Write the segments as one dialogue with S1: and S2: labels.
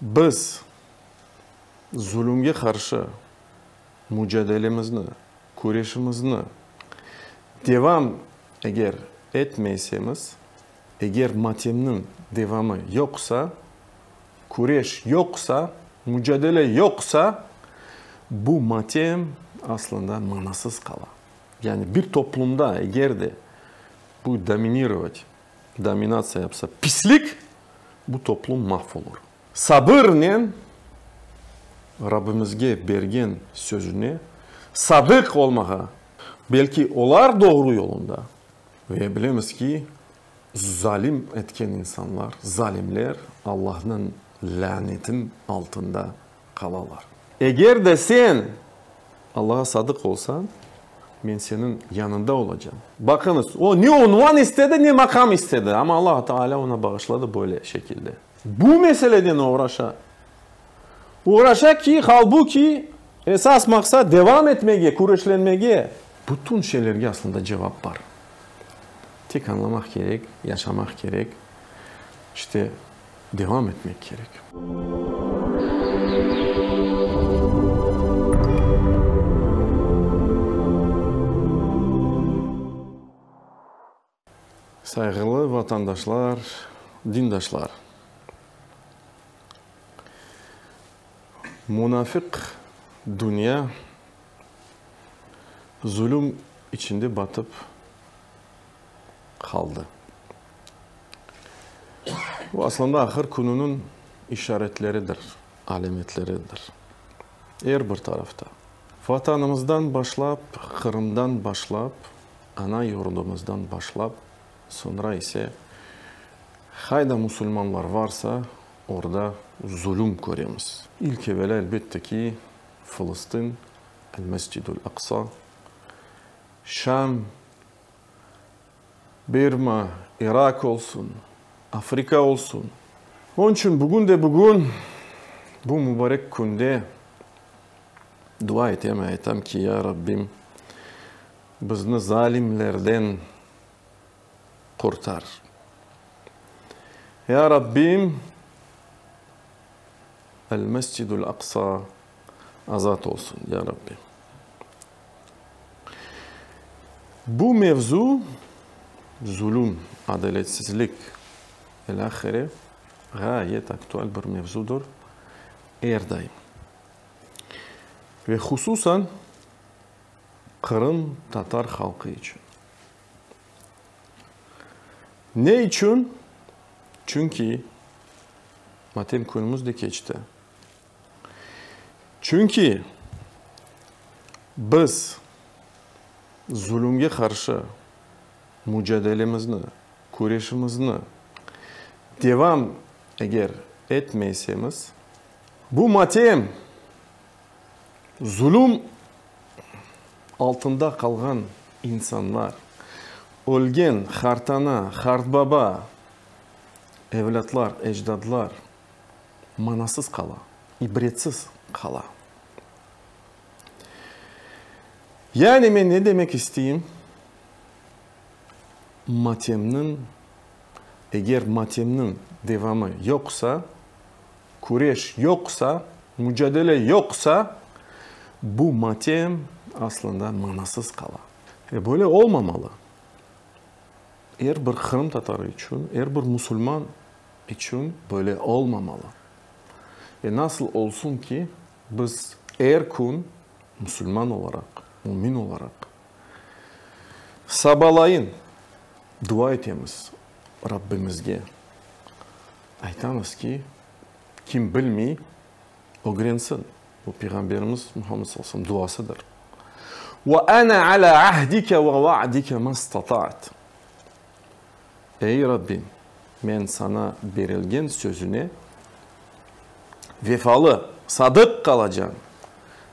S1: Biz zulümge qarşı mücadelemizni, küreşimizni devam eger etmeysemiz, eger matemniñ devamı yoqsa, küreş yoqsa, mücadele yoqsa, bu matem aslında manasız qala. Yani bir toplumda eger de bu dominirovat Dominatsiya yapsa pislik, bu toplum mahv olur. Sabırnen Rabbimizge bergen sözüne sadıq olmağa, belki olar doğru yolunda ve bilemiz ki, zalim etken insanlar, zalimler Allahnıñ lânetin altında qalalar. Eger de sen Allağa sadıq olsañ, men seniñ yanında olacam. Baqıñız, o ne unvan istedi, ne maqam istedi, amma Alla Taalâ oña bağışladı böyle şekilde. Bu meseleden oğraşa. Oğraşa ki, halbuki, esas maqsat devam etmege, küreşlenmege. Bütün şeylerge aslında cevap bar. Tek añlamaq kerek, yaşamaq kerek. İşte. devam etmek kerek. Sayğılı vatandaşlar, dindaşlar! Munafıq dünya zulüm içinde batıp qaldı. Bu, aslında, ahır kününiñ işaretleridir, alâmetleridir. Er bir tarafta. Vatanımızdan başlap, Qırımdan başlap, ana yurdumızdan başlap, soñra ise, qayda musulmanlar varsa, orda zulüm köremiz. İlk evelâ, elbette ki, Fılıstin, El-Mescidül-Aqsa, Şam, Birma, İraq olsun, Afrika olsun. Onıñ içün bugün de bugün, bu mübarek künde dua etem, aytam ki, ya Rabbim, bizni zalimlerden qurtar. Ya Rabbim, El-Mescidül-Aqsa, azat olsun, ya Rabbi. Bu mevzu, zulüm, adaletsizlik, ilâhire, ğayet aktual bir mevzudır, er daim. Ve hususan Qırım Tatar halqı içün. Ne içün? Çünki, matem künümüz de keçti. Çünki biz zulümge qarşı mücadelemizni, küreşimizni devam eger etmeysemiz, bu matem, zulüm altında qalğan insanlar, ölgen qartana, qartbaba, evlâtlar, ecdadlar manasız qala, ibretsiz qala. Yani men ne demek isteyim? Matemniñ, eger matemniñ devamı yoqsa, küreş yoqsa, mücadele yoqsa, bu matem aslında manasız qala. E, böyle olmamalı. Er bir qırımtatarı içün, er bir musulman içün böyle olmamalı. Ve nasıl olsun ki, biz er kün musulman olaraq, mümin olaraq sabalayın dua etemiz Rabbimizge, aytamız ki, kim bilmey, ögrensin. Bu Peyğamberimiz Muhammed sallallahu aleyhi ve selem duasıdır. Ve ana ala ahdike ve vaadike mastata'tu. Ey Rabbim, men saña berilgen sözüne vefalı, sadıq qalacağım,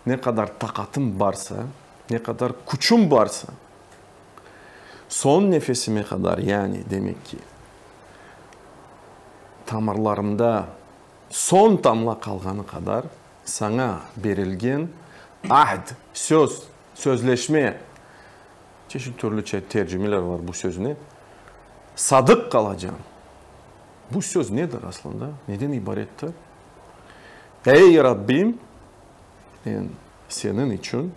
S1: ne qadar taqatım barsa, ne qadar küçüm barsa, soñ nefesime qadar, yani, demek ki, tamırlarımda soñ tamla qalğanı qadar saña berilgen ahd, söz, sözleşme, Çeşit türlüçe tercimeler var bu sözni. Sadıq qalacan. Bu söz nedir aslında? Neden ibarettir? Ey Rabbim, men Seniñ içün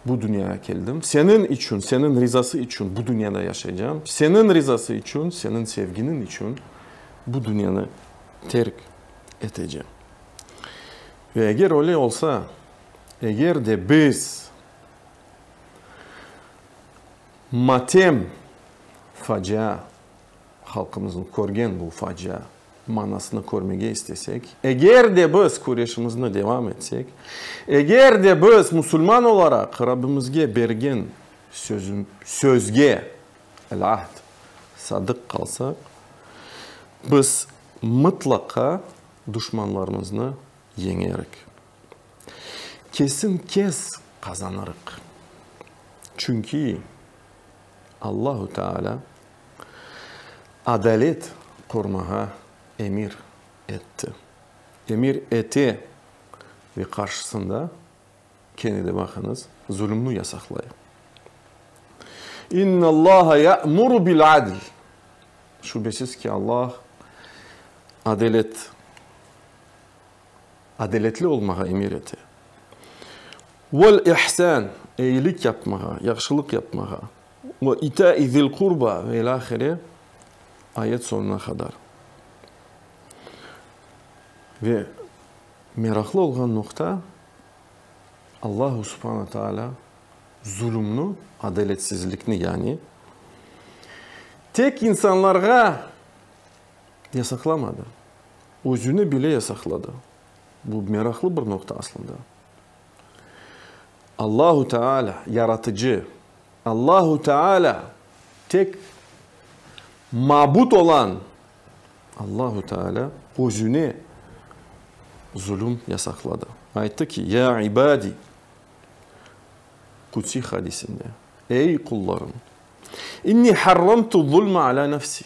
S1: bu dünyaya keldim. Seniñ içün, Seniñ rizası içün bu dünyada yaşaycam. Seniñ rizası içün, Seniñ sevginiñ içün bu dünyanı terk etecem. Ve eger öyle olsa, eger de biz Matem, facia, halqımıznıñ körgen bu facia manasını körmege istesek, eger de biz küreşimizni devam etsek, eger de biz musulman olaraq Rabbimizge bergen sözge, el-ahd, sadıq qalsaq, biz mıtlaqa duşmanlarımıznı yeñerik. Kesin kes qazanırıq. Çünki Allahu Teala adalet qurmağa emir etti. Emir ete ve qarşısında, kene de baqıñız, zulümni yasaqlay. İnnallâhe ya'muru bil adl. Şübesiz ki, Allah adalet Adaletli olmağa emir ete. Vel ihsan, eyilik yapmağa, yahşılıq yapmağa. Ve ita-i zil qurba ve ilâhire, ayet soñuna qadar. Ve meraqlı olğan noqta, Allahu subhana taalâ zulümni, adaletsizlikni yani, tek insanlarğa, Yasaqlamadı. Özüni bile yasaqladı. Bu meraqlı bir noqta aslında. Allahu Teala, Yaratıcı, Allahu Teala, tek mabut olan Allahu Teala özüne zulüm yasaqladı. Ayttı ki, Ya ibadi, Qudsiy hadisinde, Ey qullarım, inni harramtu zulme ala nefsi,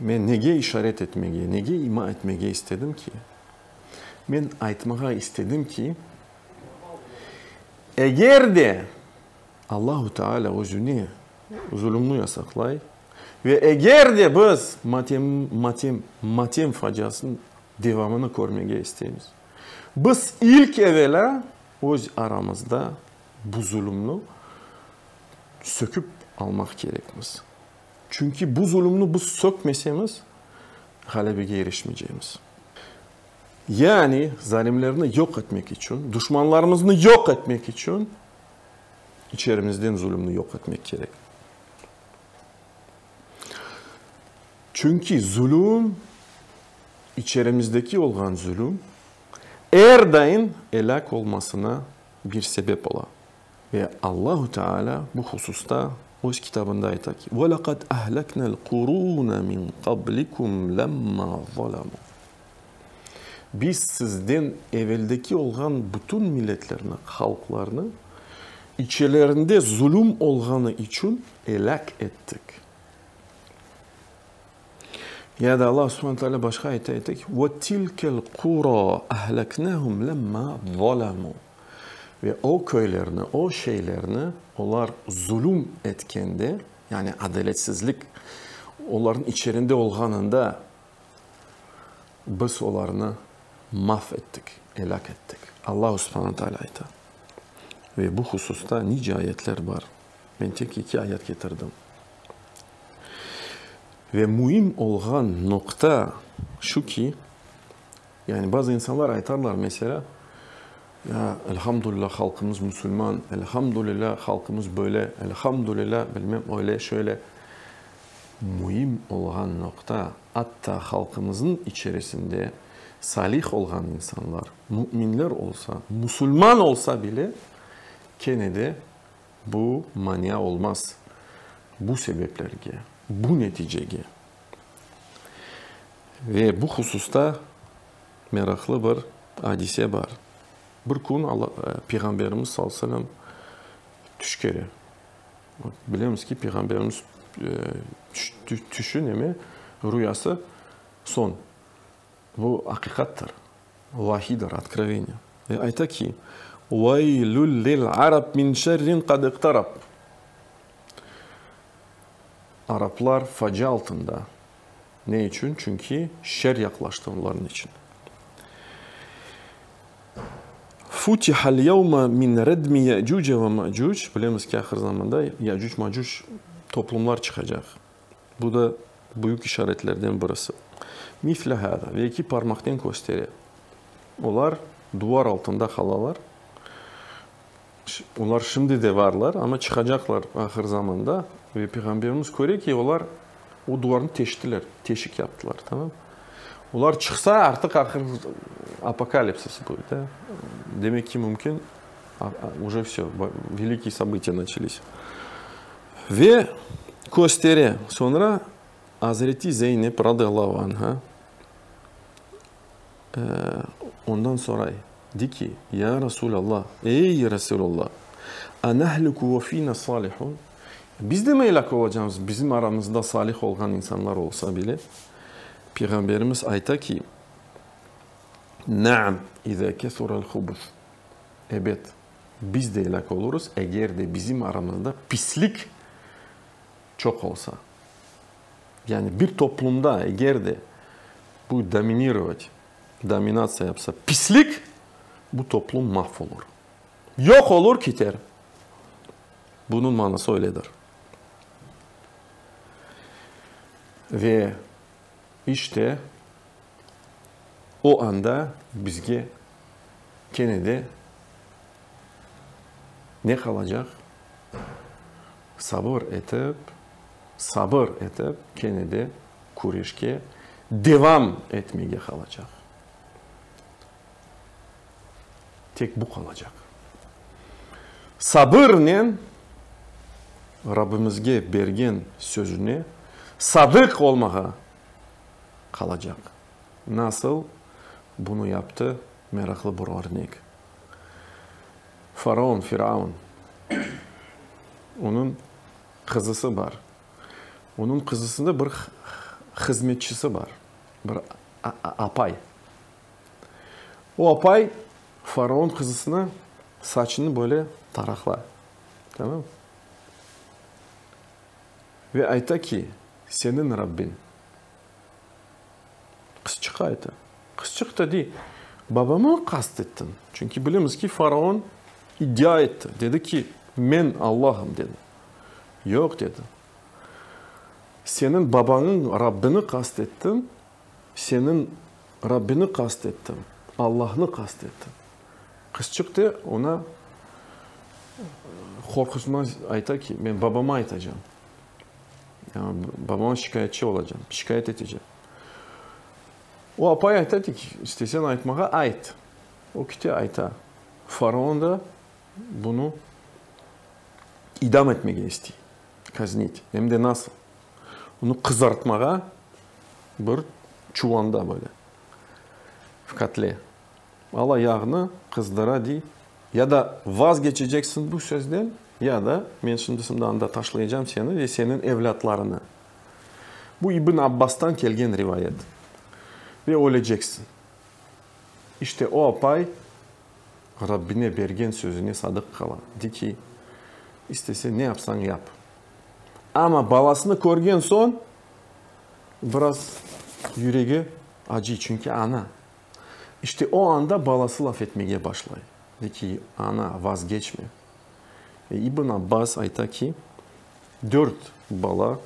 S1: Men nege işaret etmege, nege ima etmege istedim ki? Men aytmağa istedim ki, eger de Allahu Teala özüne zulumnı yasaqlay ve eger de biz matem, matem, matem faciasınıñ devamını körmege isteymiz, biz ilk evelâ öz aramızda bu zulumnı söküp almaq kerekmiz. Çünki bu zulümni biz sökmesemiz, ğalebege irişmeycegimiz. Yani, zalimlerni yoq etmek içün, duşmanlarımıznı yoq etmek içün içerimizden zulümni yoq etmek kerek. Çünki zulüm, içerimizdeki olğan zulüm er daim elâk olmasına bir sebep ola. Ve Allahu Teala bu hususta Öz Kitabında ayta ki, Ve leqad ehleknel qurune min qablikum lemma zalemû. Biz sizden eveldeki olğan bütün milletlerni, halqlarnı, içelerinde zulüm olğanı içün elâk ettik. Ya da Allahu Subhane Teala başqa ayette ayta ki, Ve tilkel qura ehleknehum lemma zalemû. Ve o köylerni, o şeylerni olar zulüm etkende, yani adaletsizlik olarnıñ içerinde olğanında Biz olarnı maf ettik, elâk ettik. Alla subhana taalâ ayta. Ve bu hususta nice ayetler bar. Men tek eki ayet ketirdim. Ve müim olğan noqta şu ki, Yani bazı insanlar aytarlar, meselâ, Ya, elhamdülilâ, halqımız musulman, elhamdülilâ, halqımız böyle, elhamdülilâ, bilmem, öyle, şöyle. Müim olğan noqta, atta halqımıznıñ içerisinde salih olğan insanlar, müminler olsa, musulman olsa bile, kene de bu mania olmaz. Bu sebeplerge, bu neticege. Ve bu hususta meraqlı bir adise bar. Bir kün Peyğamberimiz sallallahu aleyhi ve sellem tüş kere. Bilemiz ki, Peyğamberimiz tüşü neme, rüyası soñ. Bu aqiqattır, vahidir, otkroveniye. Ve ayta ki, Veylül lil arab min şerrin qad iqtarab. Araplar facia altında. Ne içün? Çünki şer yaqlaştı onların içün. Futihal yevme min redmi Ye'cuce ve Me'cuc, bilemiz ki, ahir zamanda Ye'cuc-Ma'cuc toplumlar çıqacaq. Bu da büyük işaretlerden birisi. Misle hâzâ, ve iki parmaqnen köstere. Olar duvar altında qalalar. Olar şimdi de varlar, amma çıqacaqlar ahır zamanda. Ve Peyğamberimiz köre ki, olar o duvarnı teştiler, teşik yaptılar, tamam. Olar çıqsa, artıq ahır apokalipsis bu, da. Demek ki, mümkün, уже vse, velikiy sobıtiye naçelis. Ve köstere, soñra Azreti Zeynep, radıyallahu anha, Ondan soray, dey ki, Ya Rasulâlla, ey Rasulâlla, anahlüku ve fîna salihun, biz de mi elâk olacağımız, bizim aramızda salih olğan insanlar olsa bile? Peyğamberimiz ayta ki, Naam, izâ kesurâl hubuth, ebet, biz de elâk olurız, eger de bizim aramızda pislik çoq olsa. Yani bir toplumda eger de bu dominirovat, dominatsiya yapsa pislik, bu toplum mahv olur, yoq olur, kiter. Bunıñ manası öyledir. Ve işte o anda bizge kene de ne qalacaq? Sabır etip, sabır etip, kene de küreşke devam etmege qalacaq. Tek bu qalacaq. Sabırnen Rabbimizge bergen sözüne sadıq olmağa qalacaq. Nasıl bunı yaptı, meraqlı bir örnek. Faraon, Firaun, onıñ qızısı bar. Onıñ qızısında bir hızmetçisi bar, bir apay. O apay faraon qızısına saçını böyle taraqla, tamam. Ve ayta ki, seniñ Rabbin. Qızçıq ayta. Qızçıq da dey, Babamı qast ettin, çünki bilemiz ki, faraon iddia etti, dedi ki, men Allahım, dedi. Yoq, dedi. Seniñ babañıñ Rabbini qast ettim, seniñ Rabbini qast ettim, Allahnı qast ettim. Qızçıq de oña qorqusınan ayta ki, men babama aytacam. Babama şikâyetçi olacam, şikâyet etecem. O apay ayta ki, isteseñ aytmağa ayt. O kite ayta. Faraon da bunı idam etmege istey, kaznit. Em de nasıl? Onı qızartmağa bir çuvanda böyle, v kotle. Al ayağını qızdıra diy. Ya da vazgeçeceksiñ bu sözden, ya da men şimdi şimdi anda taşlaycam seni ve seniñ evlâtlarını. Bu İbn Abbastan kelgen rivayet. Ve öleceksiñ. İşte o apay Rabbine bergen sözüne sadıq qala. De ki, istesen ne yapsañ yap. Amma balasını körgen soñ biraz yüregi acıy, çünki ana. İşte o anda balası laf etmege başlay, dey ki, ana, vazgeçme. Ve İbn Abbas ayta ki, dört bala,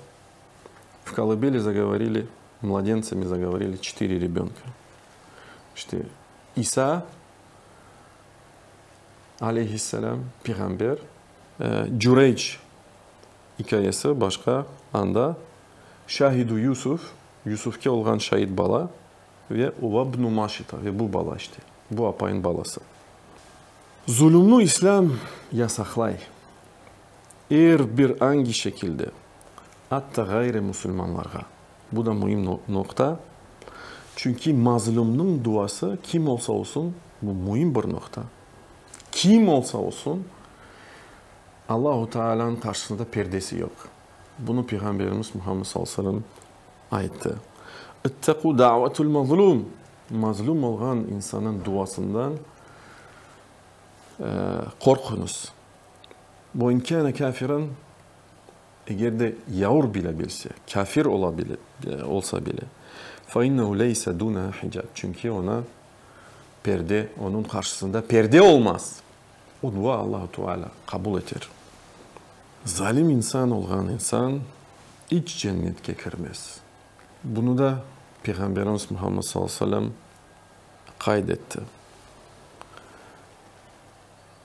S1: v kolobeli zagovorili mladencami zagovorili çetiri rebönka. İşte İsa, aleyhisselâm, piğamber. Cüreyc ikâyesi başqa anda, şâhidu Yusuf, Yusufke olğan şait bala. Ve uva bnu Maşita, ve bu bala işte, bu apayın balası. Zulümni İslâm yasaqlay, er bir angi şekilde, atta ğayri musulmanlarğa. Bu da müim noqta, çünki mazlumnıñ duası kim olsa olsun, bu müim bir noqta, kim olsa olsun, Allahu Taalanıñ qarşısında perdesi yoq. Bunı Peyğamberimiz Muhammed sallallahu aleyhi ve sellem. ayttı. İttaqu da'vatul mazlum, mazlum olğan insannıñ duasından qorquñız. Ve in kâne kâfiran, eger de yaur bile bilse, kâfir ola bile, olsa bile, fe innehu leyse dûneha hicab, çünki ona perde, onıñ qarşısında perde olmaz. Udva Allahu Teala qabul eter. Zalim insan olğan insan iç cennetke kirmez. Bunı da Peyğamberimiz Muhammed sallallahu aleyhi ve sellem qayd etti.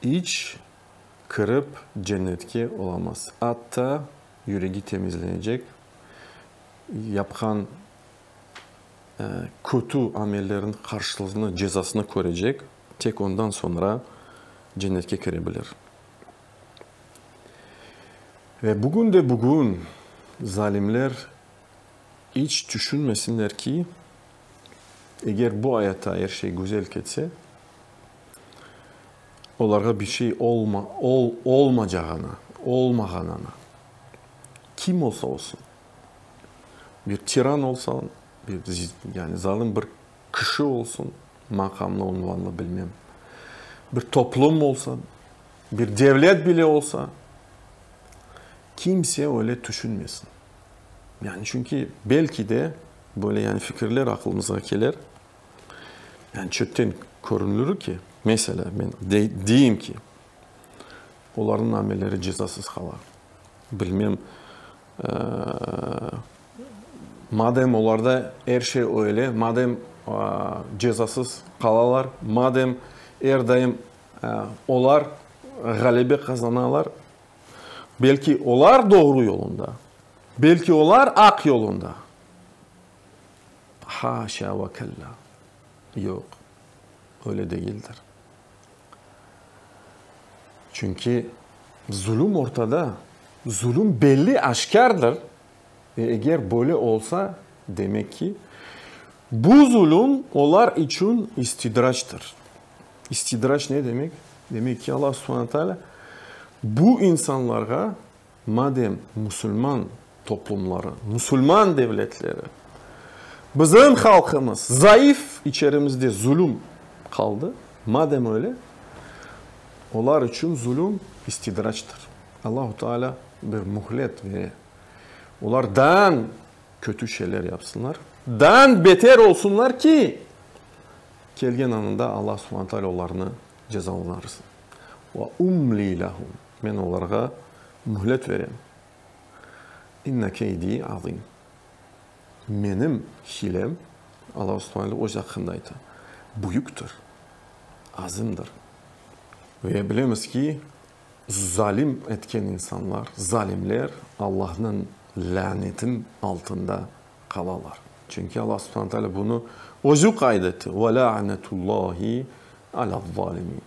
S1: İç kirip cennetke olamaz. Atta yüregi temizlenecek, yapqan kötü amelleriniñ qarşılığını, cezasını körecek. Tek ondan soñra cennetke kire bilir. Ve bugün de bugün zalimler iç tüşünmesinler ki, eger bu ayatta er şey güzel ketse, olarğa bir şey olmacağını, olmağanını, kim olsa olsun, bir tiran olsun, bir zalim bir kişi olsun, maqamlı, unvanlı, bilmem, bir toplum olsa, bir devlet bile olsa, kimse öyle tüşünmesin. Yani çünki belki de böyle yani fikirler aqlımızğa keler, yani çöpten körünülür ki, mesela men deyim ki, olarnıñ amelleri cezasız qala, bilmem, Madem olarda er şey öyle, madem cezasız qalalar, madem er daim olar ğalebe qazanalar, belki olar doğru yolunda, belki olar aq yolunda? Haşa ve kella! Yoq, öyle degildir. Çünki zulüm ortada, zulüm belli, aşkârdır. Ve eger böyle olsa, demek ki, bu zulüm olar içün istidraçtır. İstidraç ne demek? Demek ki, Alla subhane taalâ bu insanlarğa Madem musulman toplumları, musulman devletleri, bizim halqımız zayıf, içerimizde zulüm qaldı, madem öyle, olar içün zulüm istidraçtır. Allahu Teala bir mühlet bere, olar daan kötü şeyler yapsınlar, daan beter olsunlar ki, kelgen anında Allah Subhane Teala olarnı cezalanırsın. Ve umli lehum. Men olarğa mühlet verem. İnne keydi azim. Menim hilem, Allahu subhanele öz aqqında ayta, büyüktir, azimdir. Ve bilemiz ki, zalim etken insanlar, zalimler Allahnıñ lânetin altında qalalar. Çünki Alla subhanele teala bunı özü qayd etti, Ve lâ'netullâhi alâ'z-zâlimin.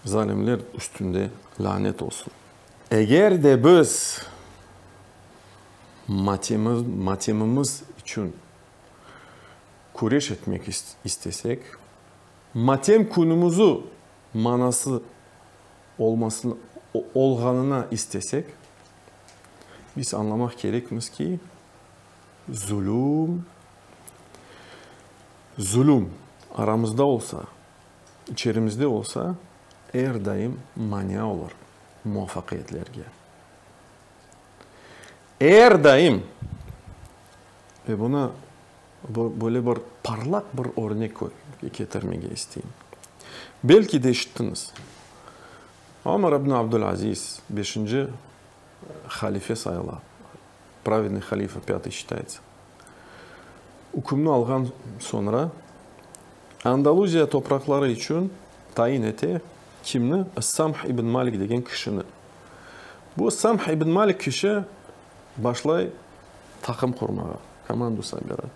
S1: Zalimler üstünde lanet olsun. Eger de biz matemimiz içün küreş etmek istesek, matem künümüzü manası olğanına istesek, biz añlamaq kerekmiz ki, zulüm, zulüm aramızda olsa, İçerimizde bolsa, er daim mania olur muvafaqiyetlerge. Er daim! Ve bunı böyle bir parlaq bir örnek ketirmege isteyim. Belki de işittiñiz, Omar ibn Abdul Aziz, beşinci, Halife sayıla. Pravedniy halife, pâtıy şitayıtsa. Ükümni alğan soñra, Andaluziya topraqları içün tayin ete, kimni? Es-Samh ibn Malik degen kişini. Bu Es-Samh ibn Malik kişi başlay taqım qurmağa, komandu sobirât.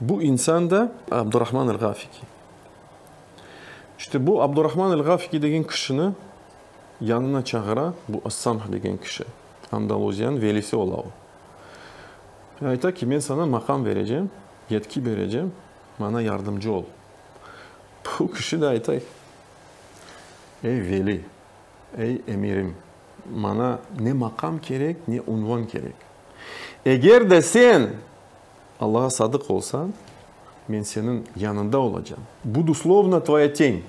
S1: Bu insan da Abdurahman el-Ğafiki. İşte bu Abdurahman el-Ğafiki degen kişini yanına çağıra bu As-Samh degen kişi. Andaluziyanıñ velisi ola o. Ve ayta ki, men sana maqam verecem, yetki berecem, maña yardımcı ol. Bu kişi de ayta, Ey veli, ey emirim, maña ne maqam kerek, ne unvan kerek. Eger de sen Allağa sadıq olsañ, men seniñ yanında olacam. Budu slovno tvoya teń.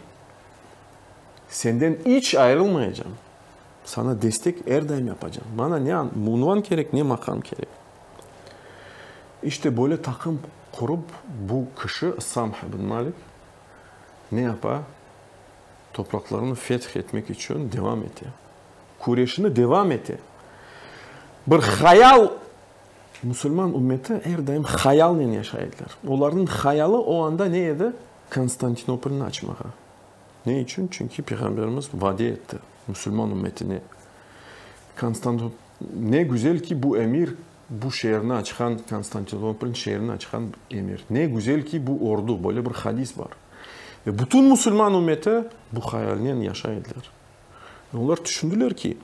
S1: Senden iç ayırılmayacam. Sana destek er daim yapacam. Mana ne unvan kerek, ne maqam kerek. İşte böyle taqım qurıp bu kişi, Samh ibn Malik, ne yapa? Topraqlarını feth etmek içün devam ete. küreşini devam ete. Bir hayal, musulman ümmeti er daim hayalnen yaşay ediler. Olarnıñ hayalı o anda ne edi? Konstantinopolni açmağa. Ne içün? Çünki Peyğamberimiz vade etti musulman ümmetine. Konstan-, ne güzel ki, bu emir, bu şeerni açqan, Konstantinopolniñ şeerini açqan emir. Ne güzel ki, bu ordu, böyle bir hadis bar. Ve bütün musulman ümmeti bu hayalnen yaşay ediler. Olar tüşündiler ki,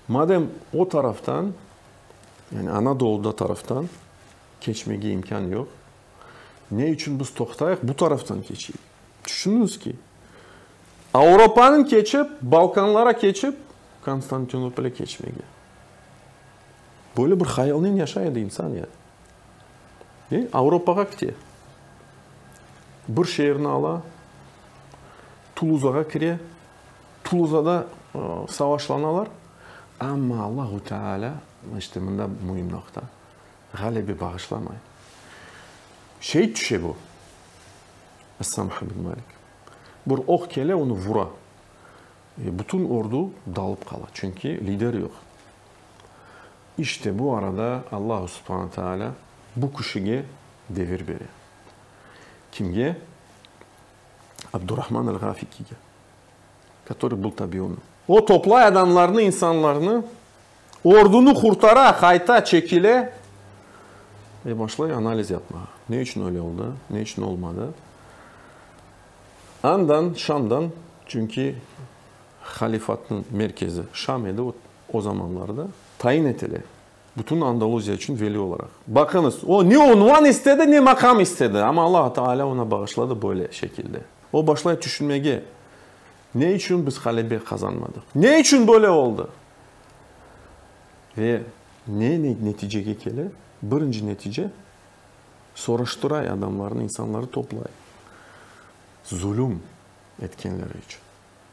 S1: madem o taraftan, yani Anadoluda taraftan keçmege imkân yoq, ne içün biz toqtayıq, bu taraftan keçeyik. Tüşüniñiz ki, Avropanı keçip, Balkanlara keçip, Konstantinopole keçmege. Böyle bir hayalnen yaşay edi insan ya. E, Avropağa kite. Bir şeerni ala, Tuluzağa kire. Tuluzada savaşlanalar, amma Allahu Teala, işte mında müim noqta, ğalebe bağışlamay. Şehit tüşe bu, Essam Hamid Malik. Bir oq kele, onı vura. Bütün ordu dalıp qala, çünki lider yoq. İşte bu arada Allahu Subhane Teala bu kişige devir bere. Kimge? Abdurahman el-Ğafikiga, kötörü bul tabi onı. O toplay adamlarnı, insanlarnı, ordunı qurtara, qayta çekile ve başlay analiz yapmağa. Ne içün öyle oldı, ne içün olmadı? Andan, Şamdan, çünki halifatnıñ merkezi Şam edi o zamanlarda, tayin etile. Bütün Andaluziya içün veli olaraq. Baqıñız, o ne unvan istedi, ne maqam istedi, amma Allahu Taalâ oña bağışladı böyle şekilde. O başlay tüşünmege, Ne içün biz ğalebe qazanmadıq? Ne içün böyle oldı? Ve ne neticege kele? Birinci netice, soraştıray adamlarnı, insanları toplay, zulüm etkenleri içün.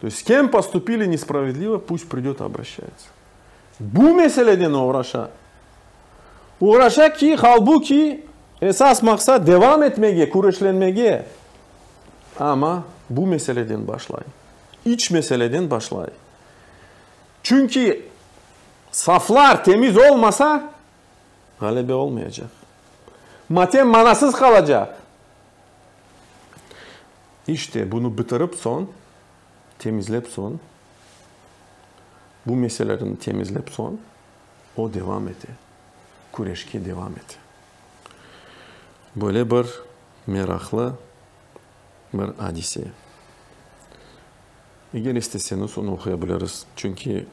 S1: To есть, s kem postupili nespravedlivo, pust pridet, obroşayıtsı. Bu meseleden oğraşa, oğraşa ki, halbuki, esas maqsat devam etmege, küreşlenmege, amma bu meseleden başlay, iç meseleden başlay. Çünki saflar temiz olmasa, ğalebe olmayacaq, matem manasız qalacaq. İşte, bunı bitirip soñ, temizlep soñ, bu meselelerini temizlep soñ, o devam ete, küreşke devam ete. Böyle bir meraqlı bir adise. Eger isteseñiz, onı oquya biliriz, çünki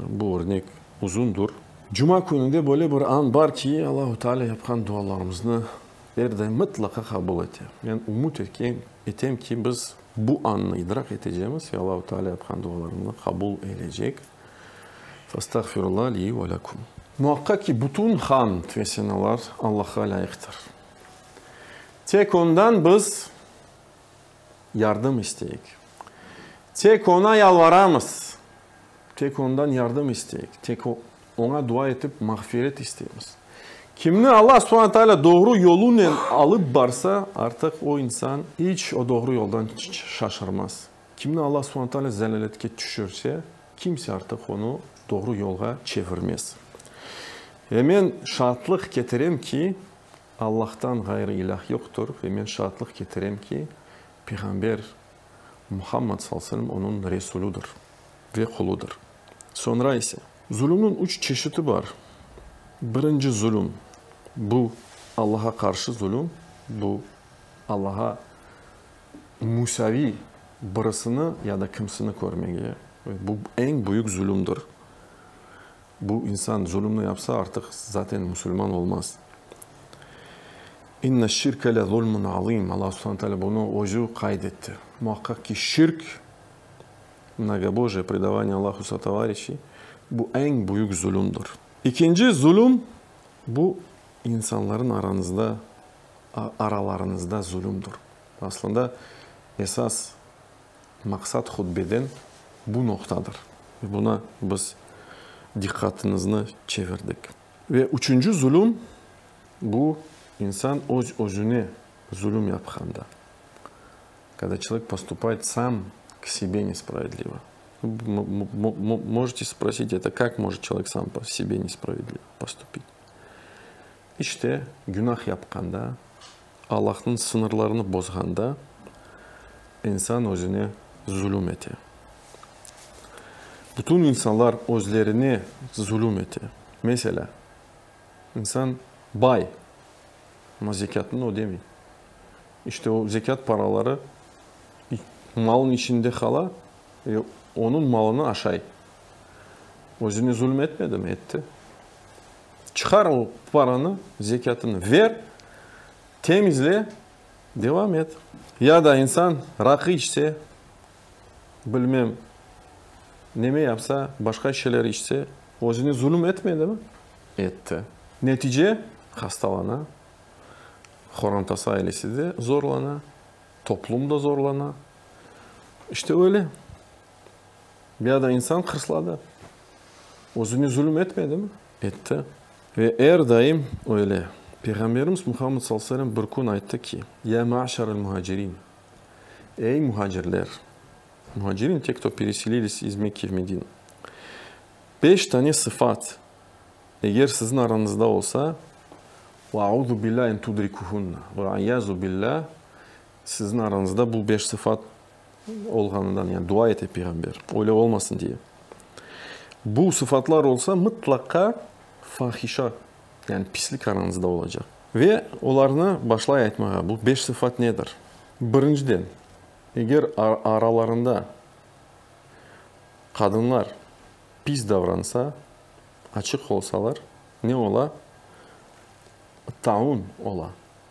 S1: bu örnek uzundur. Cuma kününde böyle bir an bar ki, Allahu Teala yapqan dualarımıznı er daim mıtlaqa qabul ete. Men ümüt etem ki, biz bu annı idraq etecemiz ve Allahu Teala yapqan dualarımnı qabul eyleycek. Fastağfirullah li ve lekum. Muaqqaq ki, bütün hamd ve senalar Allahqa lâyıqtır. Tek Ondan biz yardım isteyik. Tek Oña yalvaramız, tek Ondan yardım isteyik, tek Oña dua etip mağfiret isteymiz. Kimni Alla subane taalâ doğru yolunen alıp barsa, artıq o insan iç o doğru yoldan şaşırmaz. Kimni Alla subane taalâ zelâletke tüşürse, kimse artıq onı doğru yolğa çevirmez. Ve men şaatlıq ketirem ki, Allahtan ğayrı ilâh yoqtur ve men şaatlıq ketirem ki, peyğamber Muhammad sallallahu alayhi ve sellem onıñ Resulüdir ve quludır. Soñra ise. Zulümniñ üç çeşiti bar. Birinci zulüm, bu Allaha qarşı zulüm, bu Allaha müsaviy birisini ya da kimsini körmege, bu eñ büyük zulümdir. Bu insan zulümni yapsa, artıq zaten musulman olmaz. İnne şirke le zulmun azim. Alla subhane taalâ bunı özü qayd etti. Muhaqqaq ki, şirk, mnogobojiye, predavaniye Allahu sotovarişiy, bu eñ büyük zulümdir. İkinci zulüm, bu insanların aranızda, aralarınızda zulümdir. Aslında esas Maqsat hutbeden bu noqtadır. Buna biz diqqatıñıznı çevirdik. Ve üçünci zulüm, bu, insan öz-özüne zulüm yapqanda. Kada çolek postupayt sam k sebe nespravedlivo. Možete sprosit, eto kak može çolek sam po sebe nespravedlivo postupit? İşte, günah yapqanda, Allahnıñ sıñırlarını bozğanda, insan özüne zulüm ete. Bütün insanlar özlerine zulüm ete. Meselâ, insan bay, amma zekâtını ödemey. İşte, o zekât paraları malnıñ içinde qala ve onıñ malını aşay. Özüne zulüm etmedimi? Etti. Çıqar o paranı, zekâtını ver, temizle, devam et. Ya da insan raqı içse, bilmem, neme yapsa, başqa şeyler içse, özüne zulüm etmedimi? Etti. Netice, hastalana, qorantası, ailesi de zorlana, toplum da zorlana. İşte öyle. Ya da insan hırsladı, özüne zulüm etmedi mi? Etti. Ve er daim öyle. Peyğamberimiz Muhammed sallallahu aleyhi ve selem bir kün ayttı ki, Ya maşarel muhacirin, ey muhacirler, muhacirin, te, kto pereselilись iz Mekke v Medine, beş tane sıfat, eger siziñ aranızda olsa, ve auzu billâh en tudrikuhunna, ve aiâzu billâh, siziñ aranızda bu beş sıfat, olğanından, yani dua ete peyğamber, öyle olmasın diye. Bu sıfatlar olsa, mıtlaqa fahişa, yani pislik aranızda olacaq. Ve olarnı başlay aytmağa, bu beş sıfat nedir? Birinciden, eger aralarında qadınlar pis davransa, açıq olsalar, ne ola? Taun ola.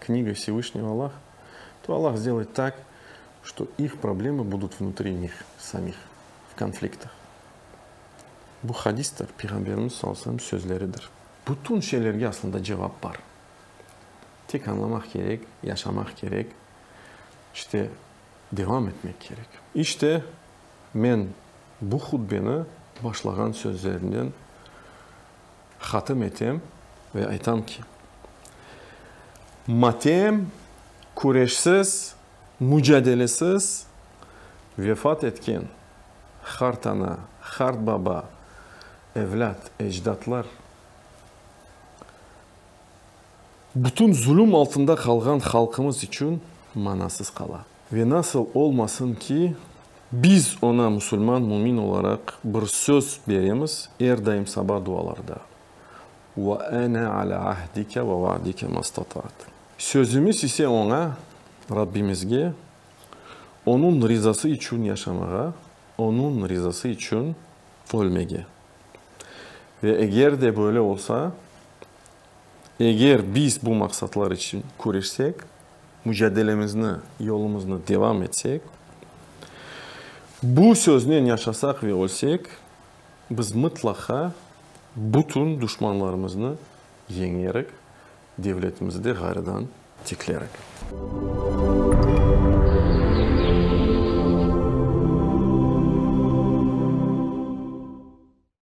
S1: Kniga Vsevishnıy Alla, to Alla zdelay tak, şto ih problema budut vnutri njih samih, v konfliktah. Bu hadistir, Peyğamberimiz sallallahu alayhi ve sellem sözleridir. Bütün şeylerge aslında cevap bar. Tek añlamaq kerek, yaşamaq kerek, işte devam etmek kerek. İşte, men bu hutbeni başlağan sözlerimden Hatim etem ve aytam ki, matem küreşsiz, mücadelesiz vefat etken hart ana, hart baba, evlât, ecdatlar, bütün zulüm altında qalğan halqımız içün manasız qala. Ve nasıl olmasın ki, biz oña musulman mümin olaraq bir söz beremiz, er daim saba dualarda, Ve ene ala ahdike ve vaadike mastatat. Sözümiz ise oña, Rabbimizge, Onun rizası içün yaşamağa, Onun rizası içün ölmege. Ve eger de böyle olsa, Eger biz bu maqsatlar içün küreşsek, mücadelemizni, yolumıznı devam etsek, bu söznen yaşasaq ve ölsek, biz mıtlaqa bütün duşmanlarımıznı yeñerik, devletimizni de ğarıdan tiklerik.